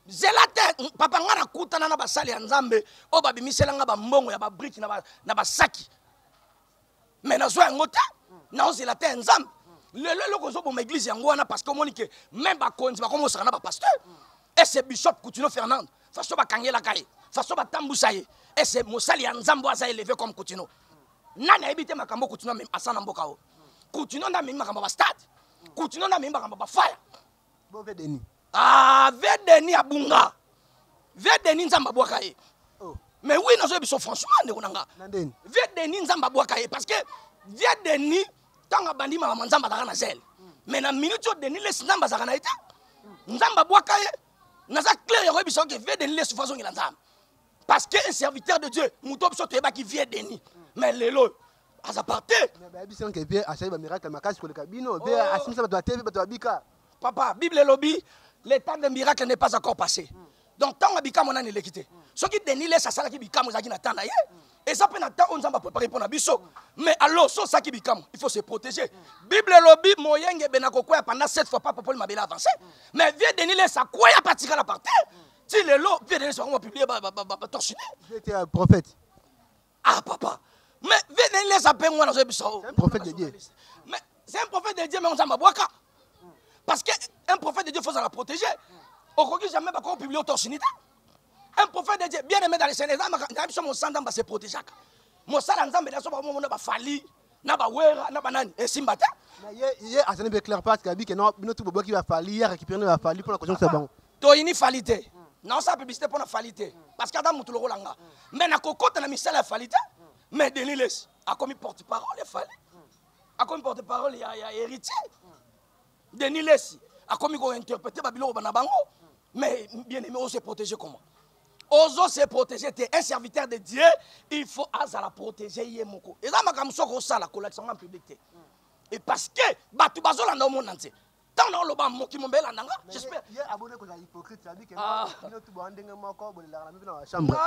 zela te papa ngai nakutana na basali ya nzambe oyo babimisela ngai bambongo ya babriki na basaki me nazwa yango te naozela te ya nzambe lelo eloko ozoboma eglize yango wana parce que omoni ke meme bakonzi bakomosaka na bapasteur ese bishop coutuno fernande faso bakangelaka ye faso batambusa ye ese mosali ya nzambe aza eleve comme coutuno nani ayebi te makambo coutuno asala na mboka o coutuno nde amemi makambo ya bastade coutuno nde amemi makambo ya bafaya bo ve deni ah ve deni abunga ve deni nzambe abwaka ye oh. mais oui nazo biso franchement ndeko na nga ve deni nzambe abwaka ye parce que ve deni ntango abandi malama nzambe azalaka na zele mm. mais na minute oyo deni lesi nzambe azalaka na ye te mm. nzambe abwaka ye naza claire ya koyebisa oke ve deni lesi fo azongela nzambe parce que un serviteur de dieu moto biso toyebaki vieux denis mais lelo oyo aza parte bayebisi yanke vie asali bamiracle makasi koleka bino vie oh. asimisa bato ya te vie bato ya bika papa bible elobi le temps de miracle n'est pas encore passé mm. donc ntango ya bikamwa nani eleki te mm. soki denis les asalaki bikamwa ezalaki na temps na ye mm. eza mpe na temps oyo nzambe aprepare mpo na biso mais alors so osalaki bikamwa il faut se protéger bible elobi moyengebene akokwea pendant 7 fois papa mpoli mabele avance mais vieux denis les akwea mpe atikala par terre ti lelo vdns bango bapiblie batorchine euh, prophète ah papa mais vdn eza mpe ngwana azoyebisa o prophète de dieu mais c'est un prophète de dieu mais ozamba bwaka parce que un prophète de dieu faut ozala protégé okoki jamais bakoko publie otorchine te un prophète de dieu bien aimé dans le seigneur eza makambo na biso mosala nzambe ase protégeaka mosala nzambe naso bakomomona bafali na ba wera na banani esimba te ye ye azali be clair parce que abi que non bino tout boboki ba fali ya récupérer na ba fali pona kozongisa bango to ini fali te na osa publicité pona fali te parce que ada mutu lokola nga mais na kokota na misala ya fali te mais Denis Lessi akomi porte parole ya fali akomi porte parole ya ya héritier Denis Lessi akomi ko interpréter ba biloko bana bango mais bien aimé on se protéger comment ozo se protéger te un serviteur de Dieu il faut azala protéger ye moko eza makambo soko osala kolakisa nga public te et parce que bato bazolanda omona nse ntango na oloba moki mombe elanda nga j'espère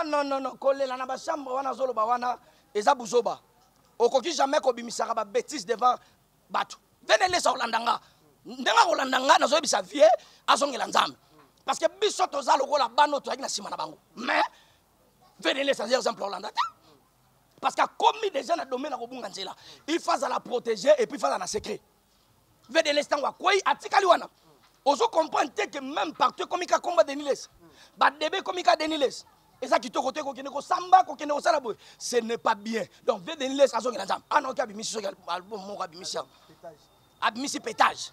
non non non kolela na bachambre wana azoloba wana eza buzoba okoki jamais kobimisaka babétise devant bato vene lesa kolanda nga ndenge akolanda nga nazoyebisa vie azongela nzambe parce que biso toza lokola bana oyo toyaki na nsima na bango mais vene lesa aza exemple olanda te parce que akomi déjà na domaine ya kobunga nzela il faut azala protégé et puis fazala na secret vene lesa ntango akwei atikali wana ozo comprendre te que même partout ekomi ka komba deniles badebe ekomi ka deniles eza kitoko te kokende kosamba kokende kosala boye ce n'est pas bien donc vie de niles azongela nzambe ana ah oki abimisi soki album moko abimisi yango abimisi pétage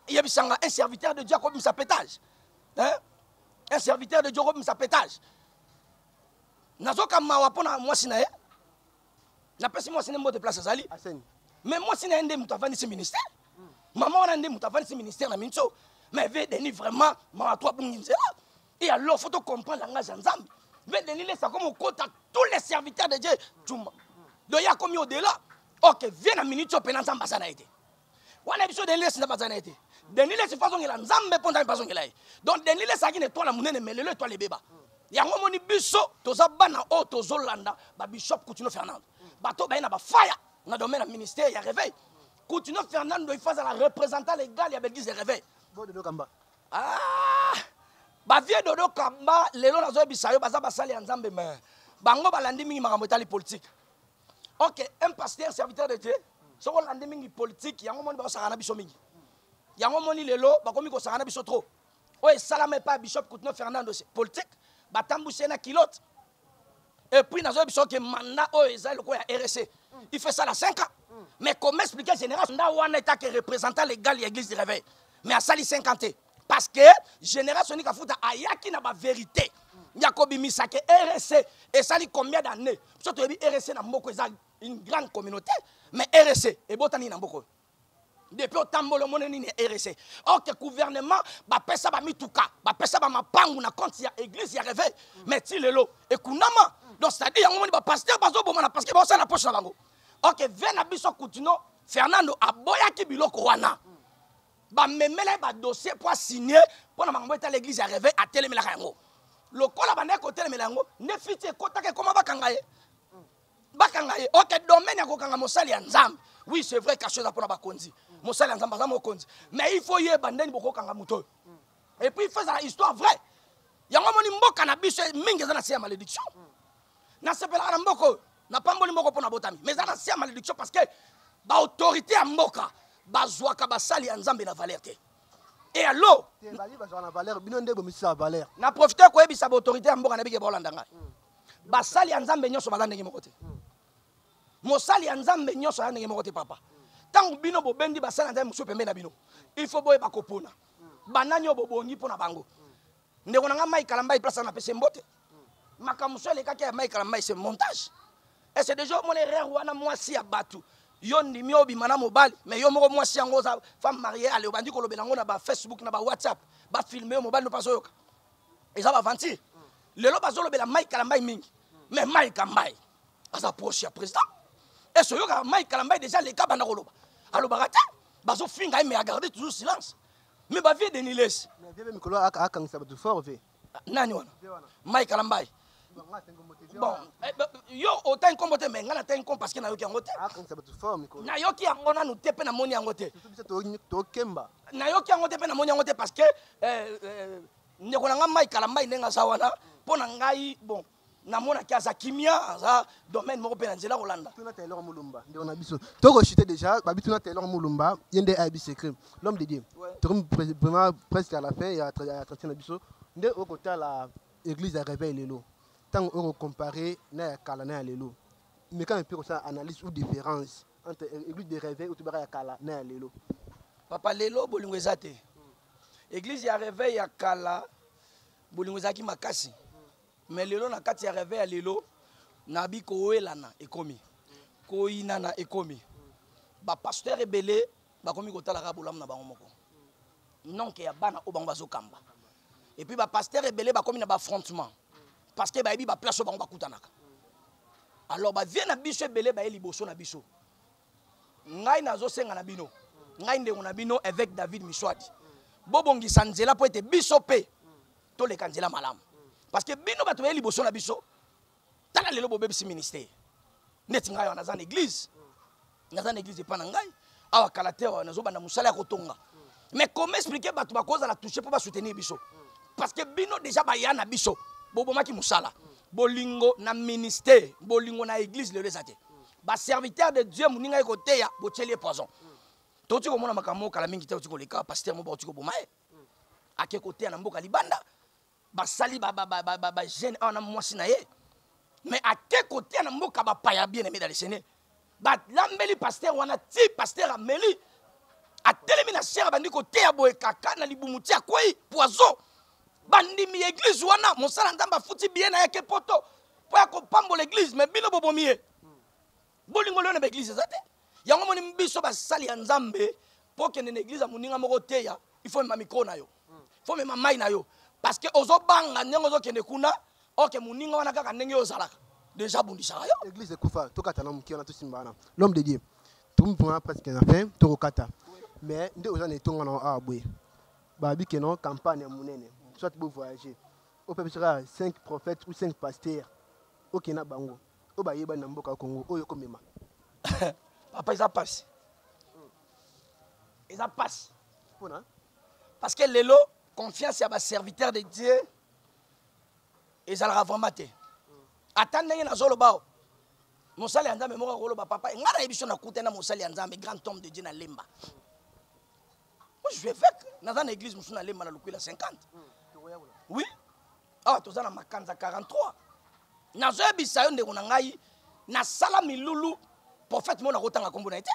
yebisanga un serviteur de dieu akobimisa pétage un serviteur de dieu akobimisa pétage nazoka mawa mpo na mwasi na ye napesi mwasi nde mbote place azali mais mwasi na ye nde moto avandisi ministère mama wana nde moto avandisi ministère na minso mais ve denis vraiment mawa to abungi nzela Et alors, faut comprendre le langage de Nzambe. Mais Denis Lessa, comme on compte à tous les serviteurs de Dieu, Djumba. Donc, il y a comme au-delà. Ok, viens à minute, tu peux Nzambe Bazana été. On a besoin de Denis Lessa Bazana été. Denis Lessa, façon qu'il a Nzambe, pour Nzambe, façon qu'il a. Donc, Denis Lessa, qui n'est pas la monnaie, mais le toi les bébas. yango omoni biso toza bana oyo tozolanda babishop coutinio fernando bato baye na bafaya na domaine ya ministère ya réveil coutinio fernando ifa azala représentant légal ya belgise ya réveil Ah! Ba vieux Dodo Kamba lelo nazoyebisa yo baza basali ya Nzambe mais bango balandi mingi makambo etali politique. Ok, un pasteur serviteur de Dieu soko olandi mingi politique yango moni bakosakana biso mingi. Yango moni lelo bakomi kosakana biso trop. Oyo esalama epai ya Bishop Kutino Fernando politique batambwisi ye na kilote Et puis, nous avons que mandat oyo eza loko ya RSC. Il fait ça la 5 ans. Mais comment expliquer général Sonda wana est que représentant légal de l'église du réveil. Mais à sali 50 ans. Parce que général Sonny Kafuta ayaki na ba vérité. Yakobi Misake RSC et sali combien d'années Surtout RSC na mboko eza une grande communauté, mais RSC et botani na mboko. depuis otambola omoni nini ya rsa ok gouvernement bapesa bamituka bapesa bamapangu na compte ya église ya réveil mm. mais ti lelo ekunama donc cetadi yango moni bapaster bazoboma na parceke baosala na poche na bango ok ve na biso kutino fernando aboyaki biloko wana mm. bamemela ye badossier mpo asigne mpo na makambo etala église ya réveil atelemelaka yango lokola bandaki kotelemela yango nefiti ekotaka ekoma bakanga ye bakanga ye ok domaine ya kokanga mosali ya nzambe oui c'est vrai kasho eza mpona bakonzi mosali ya nzambe aza mokonzi mais il faut yeba ndeni bokokanga moto oyo et puis il faut ezala histoire vraie yango omoni mboka na biso mingi eza na se ya malédiction nasepelaka na mboka oyo napamboli mboka mpo nabotami mais eza na se ya malédiction parce que baautorité ya mboka bazwaka basali ya nzambe na valeur te e alo na profite koyebisa baautorité ya mboka na bike baolanda ngai mm. basali ya nzambe nyonso baza ndenge moko te mosali ya nzambe nyonso aza ndenge moko te papa ntango bino bobendi basali ya nzambe mosusu pembe na bino il faut boyeba kopona banani oyo bobongi mpo na bango ndeko na ngai mai kalambai place na pese mbote makambo mosusu elekaki ya mai kalambai se montage ese deja omona erreur wana mwasi ya bato yo ndimi obima na mobali mais yo moko mwasi yango oza femme mariée ale obandi kolobela yango na bafacebook na bawhatsapp bafilme yo mobali no mpe azoyoka eza baventure lelo bazolobela mai kalambai mingi mais mai kambai aza proche ya président ese oyokaka mai kalambai déjà leka banda koloba alobaka te bazofinga ye mais agarde toujours silence mais bavie denilesi mikolo akangisa bato fort ve nani wana mai kalambai bon eh, yo otangi nkombo te mai ngai natangi nkombo parceke nayoki yango te nayoki yango nanu te mpe namoni yango te nayoki yango te mpe namoni yango te parceke eh, eh, ndeko na ngai mai kala mai ndenge aza wana mpo na ngai bon namonaki aza kimia aza domaine moko mpe na nzela kolanda tuna taylor mulumba ndeko na biso tokoshite déjà babi tuna taylor mulumba ye nde ayebi secret l'homme de dieu tokomi vraiment presque à la fin ya entretien na biso nde okotala Eglise ya reveil lelo tango oko comparer na ya kala na ya lelo meka mpe kosala analyse ou différence entre eglise de reveil ou tobaka ya kala na ya lelo papa lelo bolingo eza te eglise ya reveil ya kala bolingo ezalaki makasi me lelo na kati ya reveil ya lelo nabi kowelana ekomi koyinana ekomi bapasteur ebele bakomi kotalaka bolamu na bango moko nonke ya bana oyo bango bazokamba et puis bapastere ebele bakomi na baaffrontement parce que bayebi baplace oyo bango bakutanaka alors bavie na biso ebele baye liboso na biso ngai nazosenga na bino ngai ndeko na bino évêque david miswadi bobongisa nzela mpo ete biso mpe toleka nzela malamu parce que bino bato baye liboso na biso tala lelo bobebisi ministère neti ngai awa naza na église naza na église epa na ngai awa kala te awa nazobanda mosala ya kotonga mais comment expliquer bato bakozala touche mpo basoutenir biso parce que bino déjà baya na biso bobomaki mosala bolingo na ministère bolingo na église lelo eza te baserviteur de dieu moninga ye koteya botyeli ye poison toti komona makambo moko kala mingi te oti koleka paster moko baoti koboma ye ake koteya na mboka libanda basali ba, ba, ba, ba, ba, ba jeune awa na mwasi na ye mais ake kotia na mboka bapaya bien aimé dalesene balambeli paster wana ti paster ameli atelemi na sere abandi koteya boye kaka na libumu ti akwei poison bandimi ya eglize wana mosala nzambe afuti biye na yake poto mpo ya kopambola eglize me bino bobomi ye bolingo leo na baeglize eza te yango moni biso basali ya nzambe mpo okende na eglize ya moninga moko oteya ifo mema mikro na yo ifo mema mai na yo parce que ozobanga ndenge ozokende kuna oke moninga wana kaka ndenge yo ozalaka deja abundisaka yo eglize ekufa tokata na moke wana tosimba wana l'homme de dieu tomipona presque na fin tokokata mais nde oza na etonga na awa boye babi ke no campagne ya monene soit bovoyage opepesaka 5 prophète ou 5 pasteur okenda bango oyo bayebani na mboka ya congo oyo ekomema papa eza mpasi eza mpasi mpona parce que lelo confiance ya baserviteur de dieu ezalaka vraiment te ata ndenge nazoloba o mosali ya nzambe moko akoloba papa ngai nayebi so nakutani na mosali ya nzambe grand homme de dieu na lemba moi je vais avec naza na église mosusu nalemba na lokwela 50 oui awa ah, toza na makanza 43 nazoyebisa yo ndeko na ngai nasala milulu prophète mona akotanga nkombo na ye te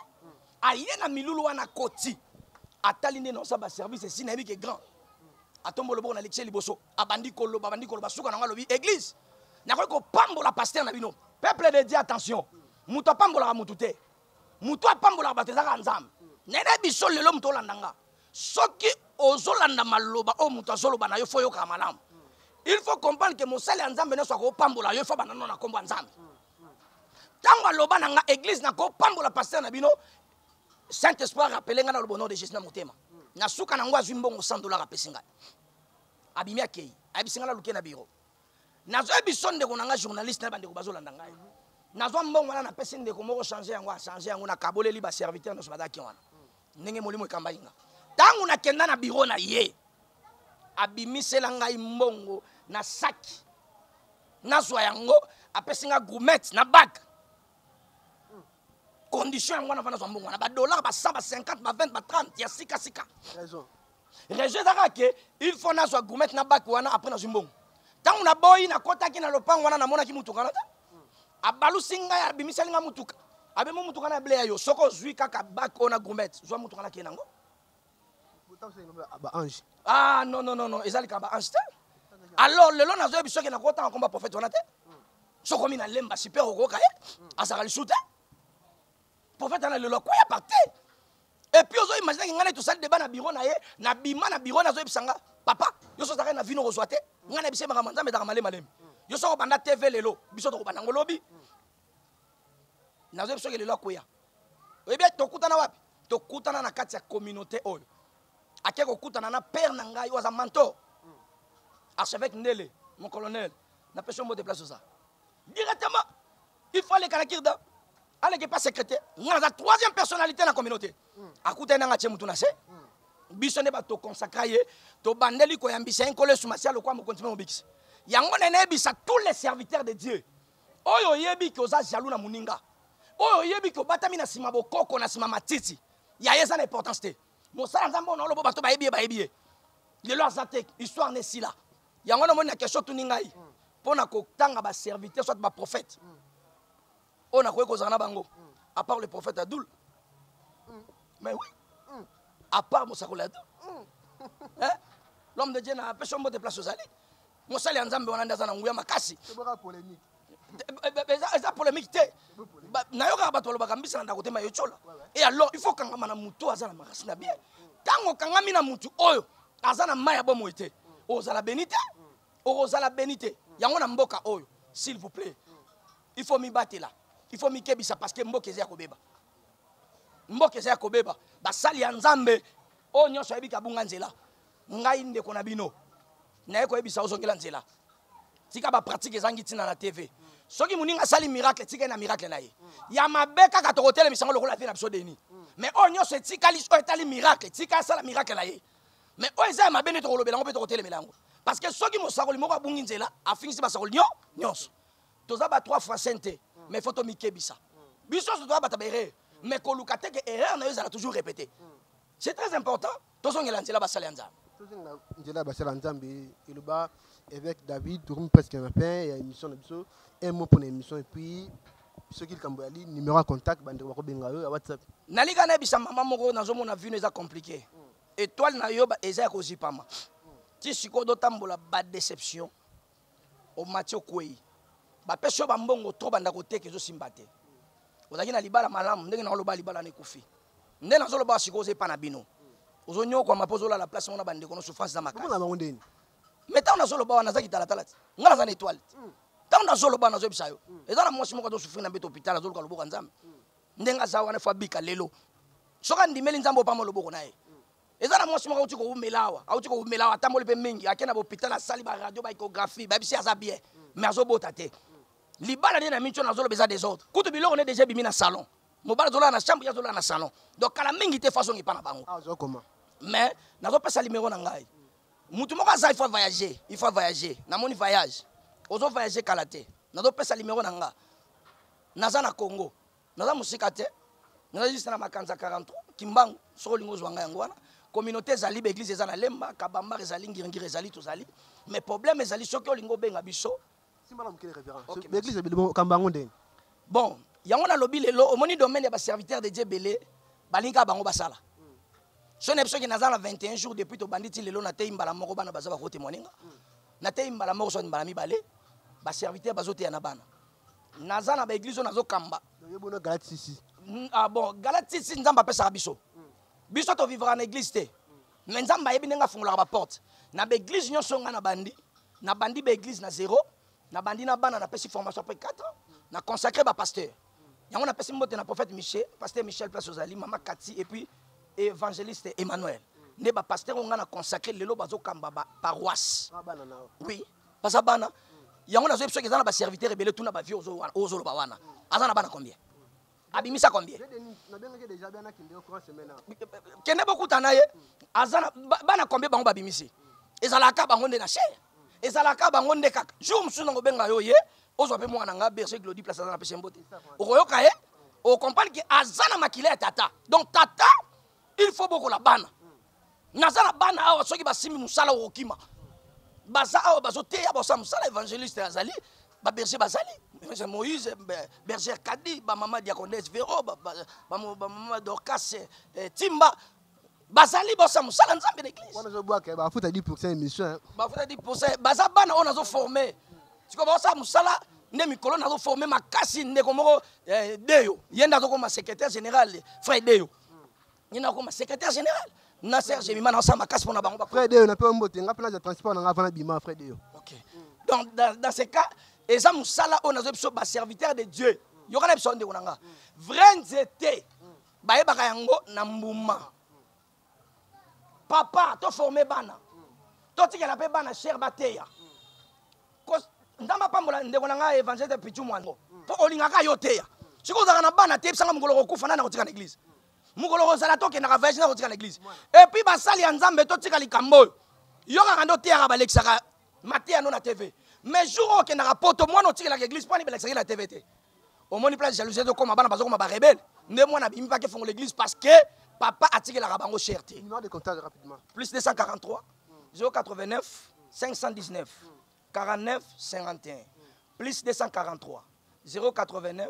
aye na milulu wana koti atali nde naosa baservice esi nayebi ke grand atombo loboko na lekise liboso abandi koloba abandi koloba suka na ngai alobi église nakoki kopambola paster na bino peuple de dieu attention moto apambolaka motu te moto apambolaka bato eza kaka nzambe nene biso lelo moto olanda nga soki ozolanda maloba oyo moto azoloba na yo fo oyokaka malamu il faut comprendre ke mosali ya nzambe nyonso akopambola yo fo banda no na nkombo ya nzambe ntango aloba na nga eglise nakopambola paster na bino saint esprit arapele ngai na lobono de jésus na motema na suka na yango azwi mbongo 100 dollar apesi ngai abimi akei ayebisi ngai naluke na biro nazoyebi so ndeko na ngai journaliste na bandeko bazolanda ngai nazwa mbongo wana napesi ndeko moko change yango achange yango nakaboleli baserviteur nyonso bazalaki wana ndenge molimo ekambai nga ntango nakenda na biro na ye abimisela ngai mbongo na saki nazwa yango apesi nga gourmete na bake condition yango wana wana azwa mbongo wana badollar ba 100 ba 50 ba 20 ba 30 ya sikasika rejo eza kaka ke il faut nazwa gourmete na baki wana apres nazwi mbongo ntango naboyi nakotaki na lopango wana namonaki motuka wana te abalusi ngai abimisali ngai motuka abemi motuka na ble ya yo soki ozwi kaka baki oyo na gourmete zwa motuka nakei nango baange ah non non non non eza likambo baange te alors lelo nazoyebi soki nakotanga komba prophète wana te sokomi na lemba super okoyoka ye azalaka lisu te prophète ana lelo akwea par terre epuis ozo imaginaki ngai nai tosali deba na biro na ye nabima na biro na azoyebisa nga papa yo so ozalaka na vino kozwa te ngai na biso makambo nzambe ezalaka malemalemi yo soko banda tv lelo biso tokobanda ngo lobi nazoyebi soki lelo akwea oyebi tokutana wapi tokutana na kati ya communauté oyo ake kokutana na père na ngai oyo aza mentor archevêque ndele mon colonel napesi yo mbote place oza directement il faut aleka na kirda aleka epa secrétaire nga naza troisième personnalité na communauté hmm. akutani nanga tie motu na se hmm. biso nde bato toconsacra ye tobandeli koyambisa ye nkolo yesu masiya lokola mokonzi mpe mobikisi yango nde nayebisa tous les serviteurs de dieu oyo oyebi ke oza jaloux na moninga oyo oyebi ke obatami na nsima bokoko na nsima matiti ya ye eza na importance te mosala nzambe oyo na olobo bato bayebi ye bayebi ye lelo aza te histoire na esila yango wana omoni na question tuni ngai mpo na kotanga baserviteur soit baprophète oyo nakoki kozala na bango à part le prophète ya doule mais oui à part mosakoli ya doule hein? l'homme de dieu na apesi yo mbote place ozali mosali ya nzambe wana nde aza na nguya makasi Tobaka polemique. eza polemique te nayokaka bato balobaka mbisa na ndako te ma yotyola e alors il faut kangama na motu oyo aza na makasi na bien ntango okangami na motu oyo aza na mai ya bomoi te ozala beni te okozala beni te yango na mboka oyo s'il vous plaît il faut mibatela il faut mikebisa parce que mboka eza ya kobeba mboka eza ya kobeba basali ya nzambe oyo nyonso ayebi kabunga nzela ngai ndeko na bino naye koyebisa ozongela nzela tika bapratike ezangi ntina na tv soki moninga asali miracle tika ye na miracle na ye ya mabe kaka tokotelemisango lokola vie na biso deni mais oyo nyonso etikali oyo etali miracle tika asala miracle na ye mais oyo eza ya mabe nde tokolobela yango mpe tokotelemela yango parce que soki mosakoli moko abungi nzela afingisi basakoli nyo nyonso toza ba trois fois saint te mais fo tomikebisa biso nyonso toza bato ya baerreur mais koluka te ke erreur na yo ezala toujours répété c'est très important tozongela nzela basali ya nzambe tozongela nzela basali ya nzambe eloba évêque david tokomi presque na fin ya émission na biso un mot mpona émission et puis soki likambo yali numéro ya contact bandeko bakobenga yo ya whatsapp nalika nayebisa mama moko nazomona vino eza compliqué mm. étoile na yo eza ya kozipama mm. ti sikoyo dotambola badéception omati okwei bapesi yo bambongo tro banda koteka ezosimba te ozalaki na libala malamu ndenge naoloba libala na ekufi nde nazoloba sikoyo oza epa na bino ozonyokwama mpo ozolala place mona bandeko no souffrance na makasibango ndeni mai ntango nazoloba wana naza kitalatala te ngai naza na etoile te hmm. ntango nazoloba nazoyebisa yo hmm. eza na mwasi moko azosufri na mbeto hopital azoluka loboko ya nzambe hmm. ndenge aza wana fo abika lelo soki andimeli nzambe opama loboko na ye eza na mwasi moko auti kowumela awa auti kowumela awa atamboli mpe mingi ake na bopital asali baradio baecographie bayebisi aza bien mais azobota te libala nde na mingi wana azoloba eza desordre kutu biloko nde deja ebimi na salon mobali azolala na chambre ye azolala na salon donc kala mingi te façon epa na bango ah, mais nazopesa limero na ngai motu moko aza il faut voyager il faut voyager namoni voyage ozo voyager kala te nazopesa limero na nga naza na congo naza mosika te naza juste na makanza 43 kimbangu soki olingi ozwa ngai yango wana communauté ezali baeglise eza na lemba kabambar ezali ngiringiri ezali tozali mais problème ezali soki olingi obenga biso baeglise kambo yango ndenge bon yango nalobi lelo omoni domaine ya baserviteur de dieu ebele balingi kaka bango basala so na biso ke naza na 21 jours depuis tobandi ti lelo nateyi mbala moko bana baza bakotemoine nga nateyi mbala moko soki mbala mibale baserviteur bazoteya na bana naza na baeglise oyo nazokamba yebona galatisi mm, ah bon galatisi nzambe apesaka biso biso tovivaka na eglise te me nzambe ayebi ndenge afungolaka baporte na baeglise nyonso ngai nabandi nabandi baeglise na zero nabandi na bana napesi formation apres 4 ans na consacre bapasteur yango napesi mbote na prophète michel pasteur michel place ozali mama kati et puis évangéliste emmanuel nde bapasteur oyo ngai na consacre lelo bazokamba baparoisse ah, oui baza bana yango nazoyebi soki eza na baserviteur ebele tuna bavie ozoloba wana aza na bana combien abimisa combien kende bokuta na ye aza na bana combien bango babimisi ezalaka bango nde na chere ezalaka bango nde kaka jour mosusu nango obenga yo ye ozwa mpe mwana nga berger glodi place aza na pese mbote okoyoka ye okomprendre ke aza na makila ya tata donc tata il faut bokola bana naza na bana awa soki basimbi mosala okokima baza awa bazoteya basala mosala évangéliste azali baberger bazali moïse berger kadi bamama diacondes vero bamama dorcas eh, timba bazali bosa mosala nzambe na eglisebafuta 10 émission bafuta 10 baza bana oyo nazoforme sikoyo baosala mosala nde mikolo nazoforme makasi ndeko moko eh, deyo ye nde azokoma secrétaire général frère deyo Ni na koma secrétaire général. Na Serge Mima na sa makasi pona bango ba. Frère Deo na pe mbote nga pe na transport na nga vana bima frère Deo. OK. Donc dans, dans ce cas eza musala on a biso ba serviteur de Dieu. Yoka na biso ndeko na nga. Vrai nzete. Ba yebaka yango na mbuma. Papa to former bana. To tikela pe bana cher bateya. Kos nzambe apambola ndeko na ngai évangile pichu mwango mpo olingaka yo teya soki ozalaka na bana teyebisanga mokolo kokufa nani akotika na église mokolo kozala tokendaka voyage na kotika na eglise epuis basali ya nzambe totika likambo oyo yo kaka nde oteyaka balekisaka mateya no na tv mais jour oyo okendaka poto mwana otikelaka eglise mpo ani balekisaki na tv te omoni place jalousie tokoma bana bazokoma barebele nde mwana abimi pake fongola eglise parce que papa atikelaka bango cher te plus 243 089 519 49 51 plus 243 089